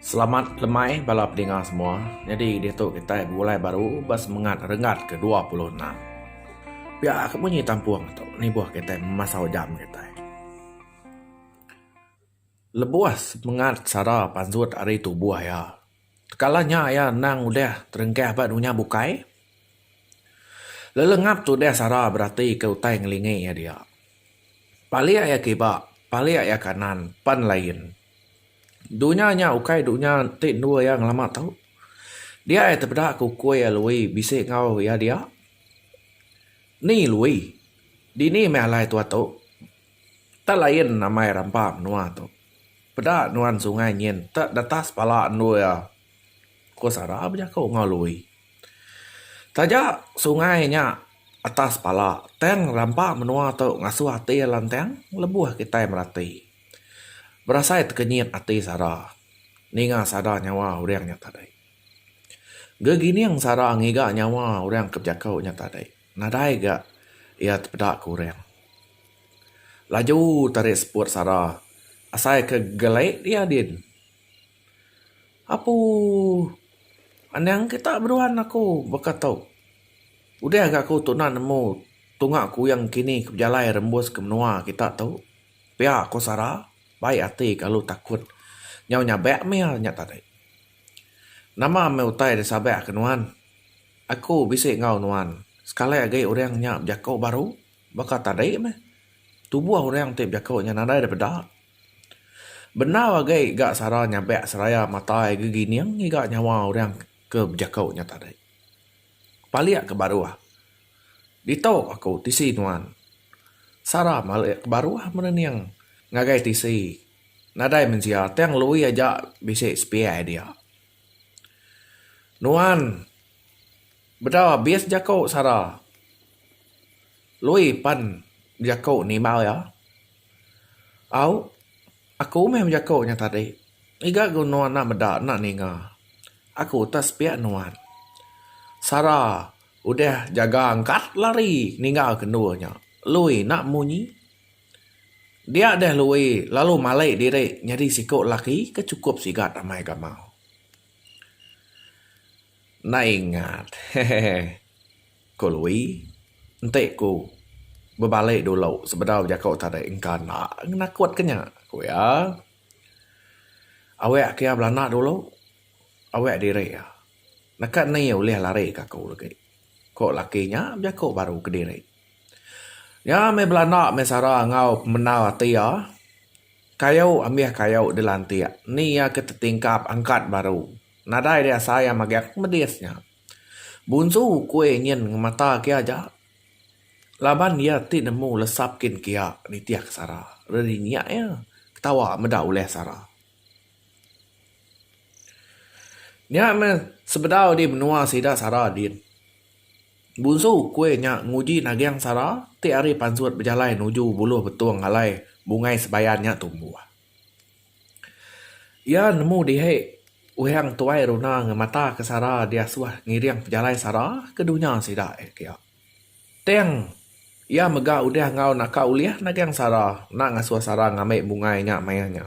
Selamat lemai bala pedinga semua. Nyadi diatu kitai begulai baru ba semengat renggat ke dua puluh enam. Pia ka munyi tampung tu nibuh kitai memasau jam kitai. Lebuh semengat sara pansut ari tubuh iya, Tekala nya iya endang udah teringkah ba dunya bukai. Lelengap tu udah sara beratika utai ngelingi iya dia. Palik iya kiba, palik iya kanan pan lain. Dunya nya ukai dunya ti endur iya ngelama tu. Dia iya tepeda ke ukui iya Lui bisi enggau iya dia. Ni Lui? Dini meh alai tua tu? Tak lain amai rampa menua tu. Peda nuan sungai nyin tek detas pala endur iya, ku Sarah bejaku enggau Lui. Taja sungai nya atas pala tang rampa menua tu ngasuh ati iya lantang lebuh kitai merati. Berasai tekenyit ati Sarah ninga sada nyawa orang nya tadi. Gegining Sarah ngiga nyawa orang ke bejaku nya tadi. Nadai ga iya tepeda ke orang. Laju tarik seput sara asai ke gelek dia din. Apu anang kita beduan aku baka tu. Udah ga aku tuna nemu tunga kuyang kini ke bejalai rembus ke menua kita tu. Pia ku sara baik ati kalu takut nyau nyabek mil nya tadi. Nama meh utai da sabak ke nuan? Aku bisi enggau nuan sekali agi orang nya bejaku baru baka tadi meh. Tubuh orang ti bejaku nya nadai da peda. Bendar agi ga sara nyabak seraya matai gegining ngiga nyawa orang ke bejaku nya tadi. Palik ke baruh. Ditu aku tisi nuan. Sara malik ke baruh menening ngagai tisi. Nadai mensia tang Lui aja bisi sepiak dia. Nuan bedau abis jaku sara Lui pan bejaku nimba iya. Au aku meh bejaku nya tadi ngiga ku nuan enda meda enda ninga aku tah sepiak nuan. Sara udah jaga angkat lari ninggal ke endur nya. Lui enda munyi. Dia deh Lui lalu malai diri nyadi siku lelaki ke chukup sigat amai gamal. Enda ingat hehehe ku Lui enti ku bebali dulu sebedau jaku tadi engka enda nakut ke nya ku iya. Awek ke iya belanda dulu awek diri iya neka ni ulih lari ke aku lagi ku lelaki nya bejaku baru kediri. Nya meh bala enda meh sara enggau pemendar ati iya. Kayu ambih kayu dilantik eni iya ke tetingkap angkat baru. Nadai deh asai iya mageh ku medis nya. Bunsu ukui nyin ngemata ke iya aja laban iya ti nemu lesap kin ke iya nitih ke sara. Reri nya iya ketawa meda ulih sara. Nya meh sebedau di menua sida sara din. Bunsu, kuih nya nguji nagang sara ti ari pansut bejalai nuju buluh betung alai bungai sebayan nya tumbuh. Iya nemu dihi uhang tuai runa ngemataka sara diasuh ngiring pejalai sara ke dunya sida eh kia. Tang iya mega udah enggau naka ulih nagang sara enda ngasuh sara ngambi bungai nya maya nya.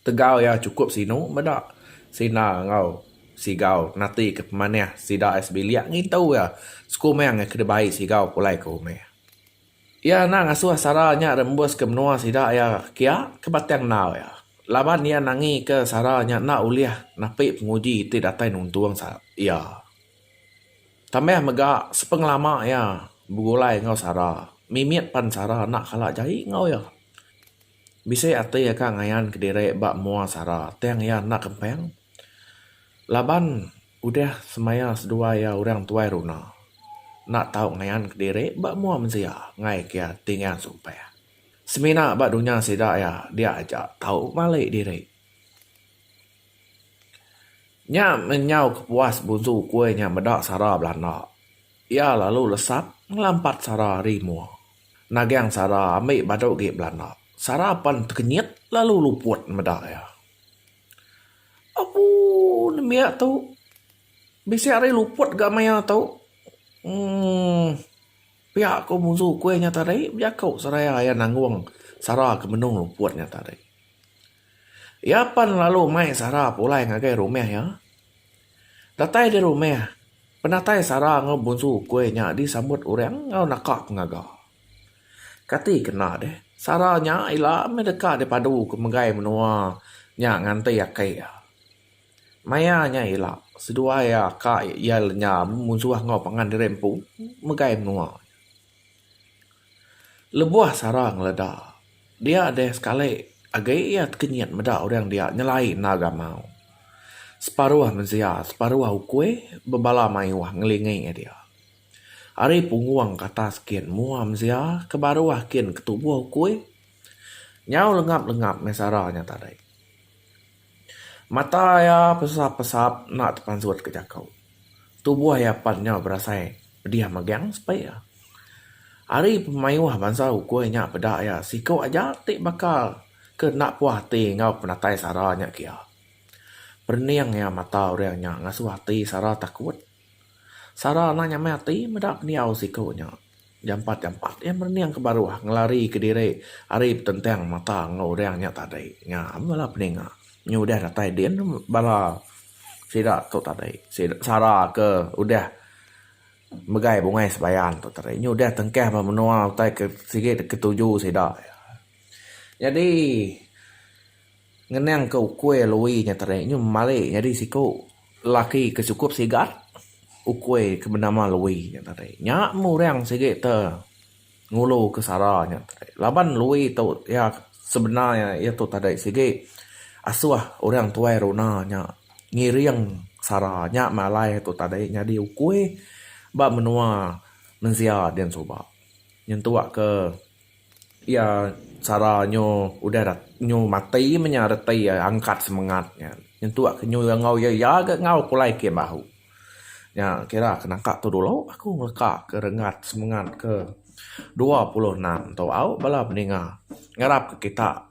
Tegal iya chukup sinu meda Sina enggau Sigau natika pemanih sida ai sebilik ngintu iya sekumang iya ke dibai Sigau pulai ke rumah. Iya enda ngasuh sara nya rembuska menua sida iya kia ke batang enggau iya laban iya nangika sara nya enda ulih napi penguji ti datai nuntung iya. Tambah mega sepengelama iya begulai enggau sara mimit pan sara enda kala jai enggau iya. Bisi ati aka ngayan ke diri ba mua sara tang iya enda kempang laban udah semaya seduai iya orang tuai runa enda tau ngayan ke diri ba mua mensia ngaika iya ti ngeang sumpah. Semina ba dunya sida iya dia aja tau mali diri. Nya menyau kepuas bunsu ukui nya meda sara belanda. Iya lalu lesap ngelampat sara ari mua. Nagang sara ambi badu gi belanda. Sara pan tekenyit lalu luput meda iya. Abu nembiak tu bisi ari luput ga maya tu uhh pia ko musu kuih nya tadi bejaku seraya iya nanggung sara ke benung luput nya tadi. Iya pan lalu mai sara pulai ngagai rumah iya. Datai di rumah, penatai sara enggau bunsu ukui nya disambut orang enggau naka pengaga. Kati ke enda deh, sara nya ila meh deka dipadu ke megai menua nya nganti akai iya. Maya nya ila, seduai aka iya lenyam munsuh enggau pangan diri empu megai menua. Lebuh sarang leda, dia deh sekali agi iya tekenyit meda orang dia nyelai enda gamau. Separuh mensia, separuh ukui bebala mayuh ngelingi dia. Ari punggung ke atas kin mua mensia ke baruh kin ke tubuh ukui nyau lengap-lengap meh sara nya tadi. Mata iya pesap pesap enda tepansut ke jaku. Tubuh iya pan nyau berasai pedih megang sepi iya. Ari pemayuh bansa ukui nya peda iya siku aja ti bakal ke enda puah ati enggau penatai sara nya kia. Perening iya mata orang nya ngasuh ati sara takut. Sara anang nyamai ati meda pendiau siku nya. Jampat jampat iya merening ke baruh ngelari ke diri ari betentang mata enggau orang nya tadi. Ngam bala peninga nya udah datai din bala sida tu tadi. Sara ke udah megai bungai sebayan tu tadi. Nya udah tengkah ba menua utai ke sigi ketuju sida. Nyadi. Ngenang ke ukui Louie nya tadi nyu mali nyadi siku lelaki ke sukup sigat ukui ke benama Louie nya tadi. Nya meh orang sigi te ngulu ke sara nya tadi laban Louie tu iya sebena iya iya tu tadi sigi asuh orang tuai runa nya ngiring sara nya meh alai iya tu tadi nyadi ukui ba menua mensia dian suba nyentuk ke. Iya sara nyu udah dat nyu mati meh nya reti iya angkat semengat nya. Nyentuk ke nyu iya enggau iya iya ga enggau pulai kiye bahu. Nya kira ke naka tu dulu aku ngeleka ke rengat semengat ke dua puluh enam tu au bala beninga ngarap ke kita.